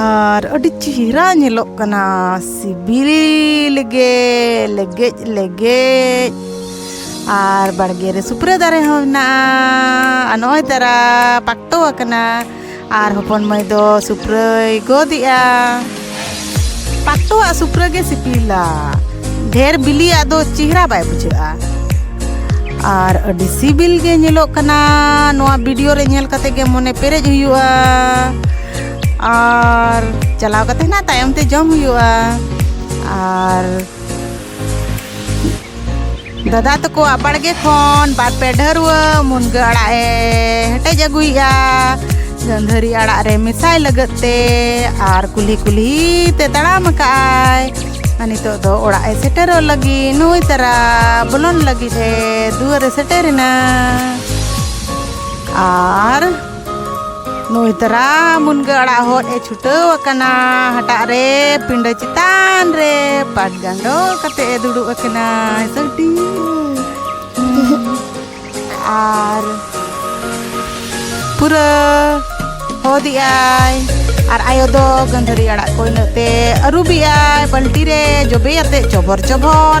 ᱟᱨ ᱟᱹᱰᱤ ᱪᱮᱦᱨᱟ ᱧᱮᱞᱚᱜ ᱠᱟᱱᱟ ᱥᱤᱵᱤᱞ ᱜᱮ ᱞᱮᱜᱮᱡ ᱞᱮᱜᱮᱡ ᱟᱨ ᱵᱟᱲᱜᱮ ᱨᱮ ᱥᱩᱯᱨᱟᱹ ᱫᱟᱨᱮ ᱦᱚᱸ ᱢᱮᱱᱟᱜᱼᱟ ᱟᱨ ᱱᱚᱜᱼᱚᱭ ᱛᱟᱨᱟ ᱯᱟᱠᱴᱚ ᱟᱠᱟᱱᱟ ᱟᱨ ᱦᱚᱯᱚᱱ ᱢᱟᱹᱭ ᱫᱚ ᱥᱩᱯᱨᱟᱹᱭ ᱜᱚᱫᱮᱜᱼᱟ ᱯᱟᱠᱴᱚᱣᱟᱜ ᱥᱩᱯᱨᱟᱹ ᱜᱮ ᱥᱤᱵᱤᱞᱟ ᱰᱷᱮᱨ ᱵᱤᱞᱤᱭᱟᱜ ᱫᱚ ᱪᱮᱦᱨᱟ ᱵᱟᱭ ᱵᱩᱡᱷᱟᱹᱜᱼᱟ ᱟᱨ ᱟᱹᱰᱤ ᱥᱤᱵᱤᱞ ᱜᱮ ᱧᱮᱞᱚᱜ ᱠᱟᱱᱟ ᱱᱚᱣᱟ ᱵᱷᱤᱰᱤᱭᱳ ᱨᱮ ᱧᱮᱞ ᱠᱟᱛᱮ ᱜᱮ ᱢᱚᱱᱮ ᱯᱮᱨᱮᱡ ᱦᱩᱭᱩᱜᱼᱟ ᱟᱨ ᱪᱟᱞᱟᱣ ᱠᱟᱛᱮ ᱦᱟᱸᱜ ᱛᱟᱭᱚᱢ ᱛᱮ ᱡᱚᱢ ᱦᱩᱭᱩᱜᱼᱟ ᱟᱨ ᱫᱟᱫᱟ ᱛᱟᱠᱚ ᱟᱵᱟᱲᱜᱮ ᱠᱷᱚᱱ ᱵᱟᱨ ᱯᱮ ᱰᱷᱟᱹᱨᱣᱟᱹ ᱢᱩᱱᱜᱟᱹ ᱟᱲᱟᱜ ᱮ ᱦᱮᱴᱮᱡ ᱟᱹᱜᱩᱭᱮᱜᱼᱟ ᱜᱟᱹᱱᱫᱷᱟᱹᱨᱤ ᱟᱲᱟᱜ ᱨᱮ ᱢᱮᱥᱟᱭ ᱞᱟᱹᱜᱤᱫ ᱛᱮ ᱟᱨ ᱠᱩᱞᱦᱤ ᱠᱩᱞᱦᱤ ᱛᱮ ᱛᱟᱲᱟᱢ ᱟᱠᱟᱜᱼᱟᱭ ᱟᱨ ᱱᱤᱛᱚᱜ ᱫᱚ ᱚᱲᱟᱜ ᱮ ᱥᱮᱴᱮᱨᱚᱜ ᱞᱟᱹᱜᱤᱫ ᱱᱩᱭ ᱛᱟᱨᱟ ᱵᱚᱞᱚᱱ ᱞᱟᱹᱜᱤᱫ ᱮ ᱫᱩᱣᱟᱹᱨ ᱮ ᱥᱮᱴᱮᱨᱮᱱᱟ ᱟᱨ ᱱᱩᱭ ᱛᱟᱨᱟ ᱢᱩᱱᱜᱟᱹ ᱟᱲᱟᱜ ᱦᱚᱫ ᱮ ᱪᱷᱩᱴᱟᱹᱣ ᱟᱠᱟᱱᱟ ᱦᱟᱴᱟᱜ ᱨᱮ ᱯᱤᱸᱰᱟᱹ ᱪᱮᱛᱟᱱ ᱨᱮ ᱯᱟᱴ ᱜᱟᱸᱰᱚ ᱠᱟᱛᱮ ᱮ ᱫᱩᱲᱩᱵ ᱟᱠᱟᱱᱟ ᱥᱟᱹᱰᱤ ᱟᱨ ᱯᱩᱨᱟᱹ ᱦᱚᱫᱮᱜ ᱟᱭ ᱟᱨ ᱟᱭᱳ ᱫᱚ ᱜᱟᱹᱫᱷᱟᱹᱨᱤ ᱟᱲᱟᱜ ᱠᱚ ᱤᱱᱟᱹᱜ ᱛᱮ ᱟᱹᱨᱩᱵᱮᱜ ᱟᱭ ᱵᱟᱹᱞᱴᱤ ᱨᱮ ᱡᱚᱵᱮ ᱟᱛᱮ ᱪᱚᱵᱚᱨ ᱪᱚᱵᱚᱨ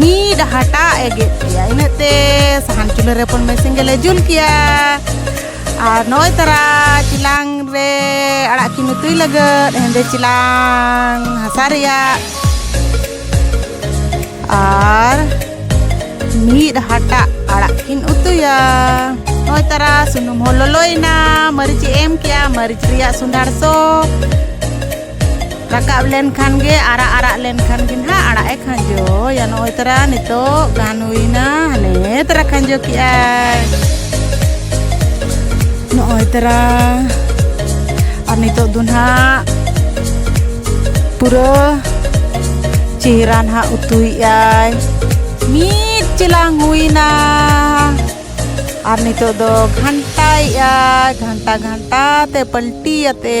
ᱢᱤᱫ ᱦᱟᱴᱟᱜ ᱮ ᱜᱮᱫ ᱠᱮᱭᱟ ᱤᱱᱟᱹᱜ ᱛᱮ ᱥᱟᱦᱟᱱ ᱪᱩᱞᱦᱟᱹ ᱨᱮ ᱯᱚᱱ ᱢᱮᱥᱤᱱ ᱜᱮᱞᱮ ᱡᱩᱞ ᱠᱮᱭᱟ ᱟᱨ ᱱᱚᱜᱼᱚᱭ ᱛᱟᱨᱟ ᱪᱤᱞᱟᱝ ᱨᱮ ᱟᱲᱟᱜ ᱠᱤᱱ ᱩᱛᱩᱭ ᱞᱟᱹᱜᱤᱫ ᱦᱮᱸᱫᱮ ᱪᱤᱞᱟᱝ ᱦᱟᱥᱟ ᱨᱮᱭᱟᱜ ᱟᱨ ᱢᱤᱫ ᱦᱟᱴᱟᱜ ᱟᱲᱟᱜ ᱠᱤᱱ ᱩᱛᱩᱭᱟ ᱱᱚᱜᱼᱚᱭ ᱛᱟᱨᱟ ᱥᱩᱱᱩᱢ ᱦᱚᱸ ᱞᱚᱞᱚᱭᱮᱱᱟ ᱢᱟᱹᱨᱤᱪ ᱮᱢ ᱠᱮᱭᱟ ᱢᱟᱹᱨᱤᱪ ᱨᱮᱭᱟᱜ ᱥᱚᱸᱫᱷᱟᱲ ᱥᱚ ᱨᱟᱠᱟᱵ ᱞᱮᱱᱠᱷᱟᱱ ᱜᱮ ᱟᱨᱟᱜ ᱟᱨᱟᱜ ᱞᱮᱱᱠᱷᱟᱱ ᱜᱮ ᱱᱟᱦᱟᱜ ᱟᱲᱟᱜ ᱮ ᱠᱷᱟᱸᱡᱚᱭᱟ ᱱᱚᱜᱼᱚᱭ ᱛᱟᱨᱟ ᱱᱤᱛᱚᱜ ᱜᱟᱱ ᱦᱩᱭᱱᱟ ᱦᱟᱱᱮ ᱛᱟᱨᱟ ᱠᱷᱟᱸᱡᱚ ᱠᱮᱜᱼᱟᱭ ᱱᱚᱜᱼᱚᱭ ᱛᱟᱨᱟ ᱟᱨ ᱱᱤᱛᱚᱜ ᱫᱚ ᱱᱟᱦᱟᱜ ᱯᱩᱨᱟᱹ ᱪᱮᱦᱨᱟ ᱱᱟᱦᱟᱜ ᱩᱛᱩᱭᱮᱜᱼᱟᱭ ᱢᱤᱫ ᱪᱮᱞᱟᱝ ᱦᱩᱭᱱᱟ ᱟᱨ ᱱᱤᱛᱚᱜ ᱫᱚ ᱜᱷᱟᱱᱴᱟᱭᱮᱜᱼᱟᱭ ᱜᱷᱟᱱᱴᱟ ᱜᱷᱟᱱᱴᱟ ᱛᱮ ᱯᱟᱞᱴᱤᱭᱟᱛᱮ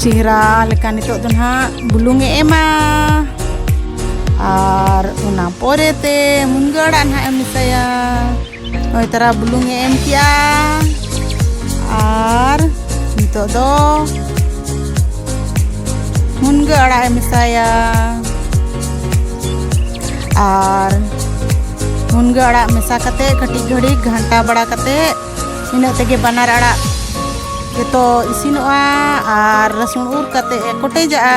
ᱪᱮᱦᱨᱟ ᱞᱮᱠᱟ ᱱᱤᱛᱚᱜ ᱫᱚ ᱱᱟᱦᱟᱜ ᱵᱩᱞᱩᱝ ᱮ ᱮᱢᱟ ᱟᱨ ᱚᱱᱟ ᱯᱚᱨᱮ ᱛᱮ ᱢᱩᱱᱜᱟᱹ ᱟᱲᱟᱜ ᱱᱟᱦᱟᱜ ᱮᱢ ᱢᱮᱥᱟᱭᱟ ᱱᱚᱜᱼᱚᱭ ᱛᱟᱨᱟ ᱵᱩᱞᱩᱝ ᱮ ᱮᱢ ᱠᱮᱜᱼᱟ ᱟᱨ ᱱᱤᱛᱚᱜ ᱫᱚ ᱢᱩᱱᱜᱟᱹ ᱟᱲᱟᱜ ᱮ ᱢᱮᱥᱟᱭᱟ ᱟᱨ ᱢᱩᱱᱜᱟᱹ ᱟᱲᱟᱜ ᱢᱮᱥᱟ ᱠᱟᱛᱮᱫ ᱠᱟᱹᱴᱤᱡ ᱜᱷᱟᱹᱲᱤᱡ ᱜᱷᱟᱱᱴᱟ ᱵᱟᱲᱟ ᱠᱟᱛᱮᱫ ᱤᱱᱟᱹᱜ ᱛᱮᱜᱮ ᱵᱟᱱᱟᱨ ᱟᱲᱟᱜ ᱡᱚᱛᱚ ᱤᱥᱤᱱᱚᱜᱼᱟ ᱟᱨ ᱨᱟᱹᱥᱩᱱ ᱩᱨ ᱠᱟᱛᱮ ᱠᱚᱴᱮᱡᱟᱜᱼᱟ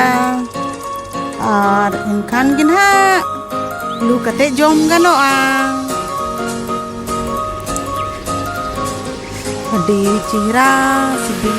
ᱟᱨ ᱮᱱᱠᱷᱟᱱ ᱜᱮ ᱱᱟᱦᱟᱜ ᱞᱩ ᱠᱟᱛᱮ ᱡᱚᱢ ᱜᱟᱱᱚᱜᱼᱟ ᱟᱹᱰᱤ ᱪᱮᱦᱨᱟ ᱥᱤᱵᱤᱞ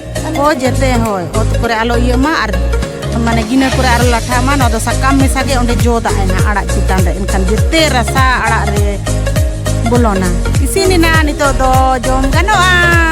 ᱠᱚ ᱡᱮᱛᱮ ᱦᱳᱭ ᱚᱛ ᱠᱚᱨᱮ ᱟᱞᱚ ᱤᱭᱟᱹᱜ ᱢᱟ ᱟᱨ ᱢᱟᱱᱮ ᱜᱤᱱᱟᱹ ᱠᱚᱨᱮ ᱟᱨ ᱞᱟᱴᱷᱟ ᱢᱟ ᱱᱚᱣᱟ ᱫᱚ ᱥᱟᱠᱟᱢ ᱢᱮᱥᱟ ᱜᱮ ᱚᱸᱰᱮ ᱡᱚ ᱫᱟᱜ ᱮᱱᱟ ᱟᱲᱟᱜ ᱪᱮᱛᱟᱱ ᱨᱮ ᱮᱱᱠᱷᱟᱱ ᱡᱮᱛᱮ ᱨᱟᱥᱟ ᱟᱲᱟᱜ ᱨᱮ ᱵᱚᱞᱚᱱᱟ ᱤᱥᱤᱱ ᱮᱱᱟ ᱱᱤᱛᱚᱜ ᱫᱚ ᱡᱚᱢ ᱜᱟᱱᱚᱜᱼᱟ